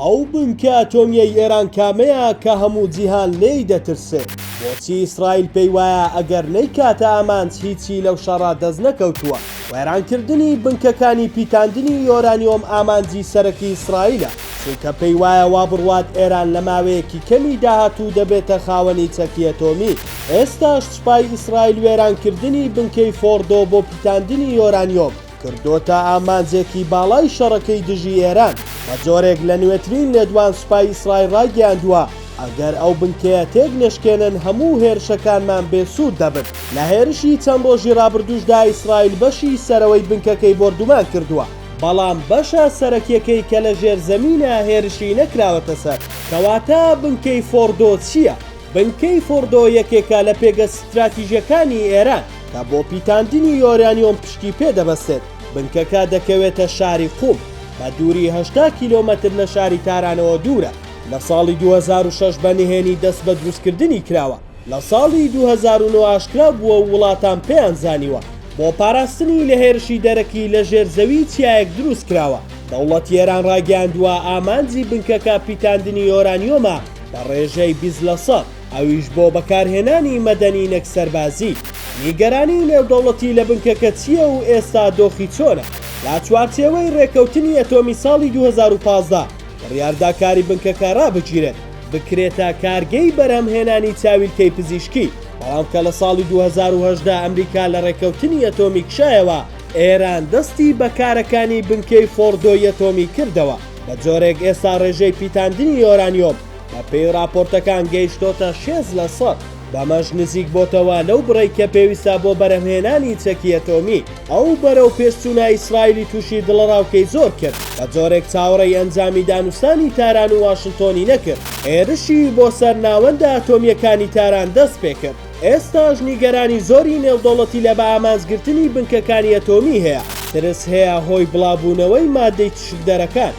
ئەو بنکە ئەتۆمیەی ئێران کامەیە کە هەموو جیهان لێی دەترسێ؟ بۆچی ئیسرائیل پێی وایە ئەگەر نەیکاتە ئامانج هیچی لەو شەڕە دەست نەکەوتووە؟ وێرانکردنی بنکەکانی پیتاندنی یۆرانیۆم ئامانجی سەرەکی ئیسرائیلە، چونکە پێی وایە وا بڕوات ئێران لە ماوەیەکی کەمی داهاتوو دەبێتە خاوەنی چەکی ئەتۆمی. ئێستاش سوپای ئیسرائیل وێرانکردنی بنکەی فۆڕدۆ بۆ پیتاندنی یۆرانیۆم، کردۆتە ئامانجێکی باڵای شەڕەکەی دژی ئێران. بە جۆرێک لە نوێترین لێدوان سوپای ئیسرائیل ڕایگەیاندووە، ئەگەر ئەو بنکەیە تێک نەشکێنن هەموو هێرشەکانمان بێ سوود دەبن. لە هێرشی چەند ڕۆژی ڕابردووشدا ئیسرائیل بەشی سەرەوەی بنکەکەی بۆردومان کردووە، بەڵام بەشە سەرەکیەکەی کە لە ژێر زەمینە هێرشی نەکراوەتە سەر. کەواتە بنکەی فۆڕدۆ چییە؟ بنکەی فۆڕدۆ یەکێکە لە پێگە ستراتیژەکانی ئێران. کە بۆ پیتاندنی یۆرانیۆم پشتی پێ دەبەستێت، بنکەکە دەکەوێتە شاری قوم، بە دووری هەشتا کیلۆمەتر لە شاری تارانەوە دوورە، لە ساڵی دوو هەزار و شەش بە نهێنی دەست بە دروستکردنی کراوە، لە ساڵی دوو هەزار و نۆ ئاشکرا بووە و وڵاتان پێیان زانیوە، بۆ پاراستنی لە هێرشی دەرەکی لە ژێر زەوی چیایەک دروست کراوە، دەوڵەتی ئێران ڕایگەیاندووە ئامانجی بنکەکە پیتاندنی یۆرانیۆمە بە ڕێژەی بیست لە سەد. ئەویش بۆ بەکارهێنانی مەدەنی نەک سەربازی. نیگەرانی نێودەوڵەتی لە بنکەکە چییە و ئێستا دۆخی چۆنە؟ لە چوارچێوەی رێککەوتنی ئەتۆمی ساڵی دوو هەزار و پازدە بڕیاردا کاری بنکەکە رابگیرێت، بکرێتە کارگەی بەرهەمهێنانی چاویلکەی پزیشکی، بەڵام کە لە ساڵی دوو هەزار و هەژدە ئەمریکا لە رێککەوتنی ئەتۆمی کشایەوە، ئێران دەستی بە کارەکانی بنکەی فۆڕدۆی ئەتۆمی کردەوە، بە جۆرێک ئێستا رێژەی پیتاندنی یۆرانیۆم بەپێی راپۆرتەکان گەیشتۆتە شێست لە سەد، بەمەش نزیک بۆتەوە لەو بڕەی کە پێویستە بۆ بەرهەمهێنانی چەکی ئەتۆمی. ئەو بەرەوپێشچوونە ئیسرائیلی تووشی دڵەڕاوکێی زۆر کرد، بەجۆرێک چاوەڕێی ئەنجامی دانوستانی تاران و واشنتۆنی نەکرد، هێرشی بۆ سەر ناوەندە ئەتۆمییەکانی تاران دەستپێکرد، ئێستاش نیگەرانی زۆری نێودەوڵەتی لە بەئامانجگرتنی بنکەکانی ئەتۆمی هەیە، ترس هەیە هۆی بڵاوبوونەوەی مادەی تشکدەرەکان.